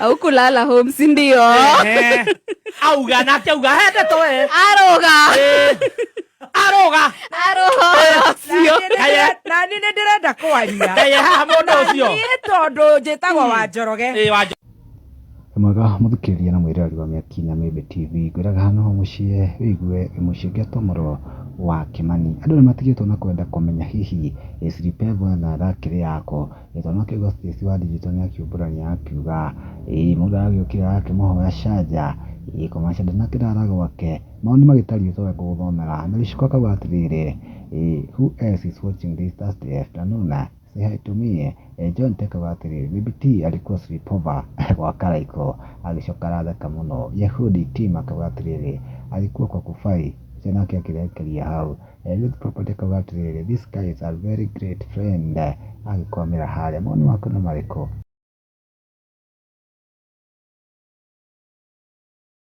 au kulala home si ndio Eh, auga nake auga hende to we aroga Eh, aroga aroga cio Kaya- nani nä ndä renda kwaria kaye haha må ndå å cio niä tondå njä tagwo wa njoroge Eh, wa mwega mũthikĩrĩria na mwĩrĩrari wa mĩaki na mĩmbe tv ngwĩraga hano mũciĩ wĩigue mũciĩ ũngĩatwo mũro wa kĩmani andũ nĩ matigĩtwo na kwenda kũmenya hihi siripevo na rakĩrĩ yako Gĩthomo kĩu Gatici wa Ndinjito nĩ akĩumbũrania akiuga, ĩĩ mũndũ aragĩũkĩra agakĩmũhoya canja, ĩĩ kũmaanisha ndarĩ na kĩrara gwake. Mau nĩ magĩtari ũtoĩ gũgũthomera. Na gĩciko akauga atĩrĩrĩ, ĩĩ who else is watching this Thursday afternoon? Say hi to me. John Tech akauga atĩrĩrĩ, maybe T alikuwa sleepover gwa Karaiko. Agĩcoka aratheka mũno. Yehudi Tim akauga atĩrĩrĩ, alikuwa kwa Kufai. Ũcio nake akĩrekeria hau. Ruth Property akauga atĩrĩrĩ, this guy is a very great friend, agĩkwamĩra harĩa. Mawoni maku nĩ marĩkũ?